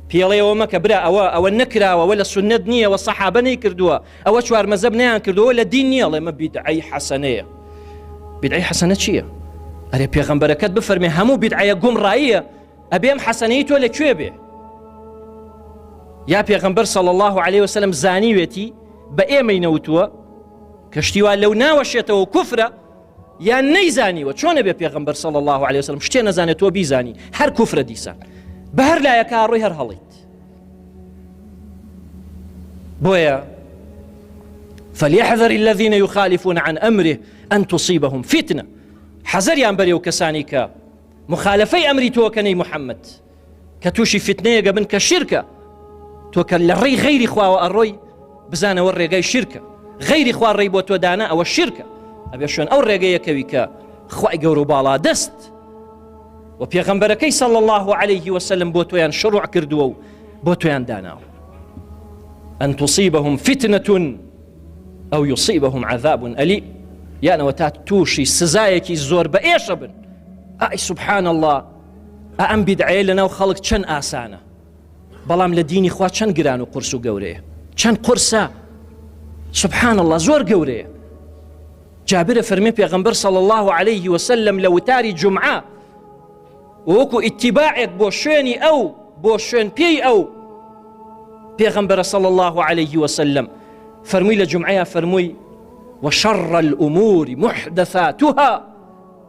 پێڵێەوە مەکە برا ئەوە ئەوە نەکراوەوە لە سنت نییە وە سەحابە نەی کردووە ئەوە چوار مەزەب نیان کردووە لە دین نییە ڵێمە بیدعی حەسەنەیە بدعی حەسەنە چییە؟ ئەرێ پێغەمبەرەکەت بفەرمێ هەموو بیدعەیە گومڕاییە ئەبێم حەسەنەی تۆ لەکوێ بێ یا پێغەمبەر سەڵ الله عليه وسلم زانیوێتی بە ئێمەی نەوتووە کەشتیوا لەو ناوەشێتەوە کوفرە یان نەیزانیوە چۆنە بێ پێغمبەر صلی الله عليه وسلم شتێ نەزانێت تۆ بیزانی هەر کوفرە دیسان بە هەر لایەکە ڕۆی هەر هەڵیت بۆیە فليحذر الذين يخالفون عن أمره أن تصيبهم فتنة حەزەریان بەرێ و کەسانی کە مخالفەی ئەمری تۆکەنەی محەممەد کە تووشی فتنەیەگە بن کە شیرکە تۆ کە لە ڕێی غەیری خواوە ئەڕۆی بزانەوە ڕێگای شیرکە غەیری خوا ڕێی بۆ تۆ دانا ئەوە شیرکە ئەبێ شوێن ئەو ڕێگەیەکەوی کە خی گەور و باڵا دەست و پێغەمبەرەکەی سەڵ الله عليه وسلم بۆ تۆیان شڕوع کردووە و بۆ تۆیان داناوە ئەن توصیبهم فتنەتون ئەو یوصیبهم عذابون ئەلی یانەوە تا تووشی سزایەکی زۆر بە ئێشە بن ئای سبحان الله ئا ئەم بیدعەیە لەناو خەڵک چەند ئاسانە بەڵام لە دینی خوا چەند گران و قرس و گەورەیە چەند قرسە سبحان الله زۆر گەورەیە جابرە فەرمی پێغمبەر سەڵ الله عليه وسلم لە وتاری جمعە وەکو ئیتیباعێک بۆ شوێنی ئەو بۆ شوێن پێی ئەو پێغمبەرە سەڵ الله عليه وسلم فەرمووی لە جمعەیە فەرمووی وشەڕ الأمور محدثاتها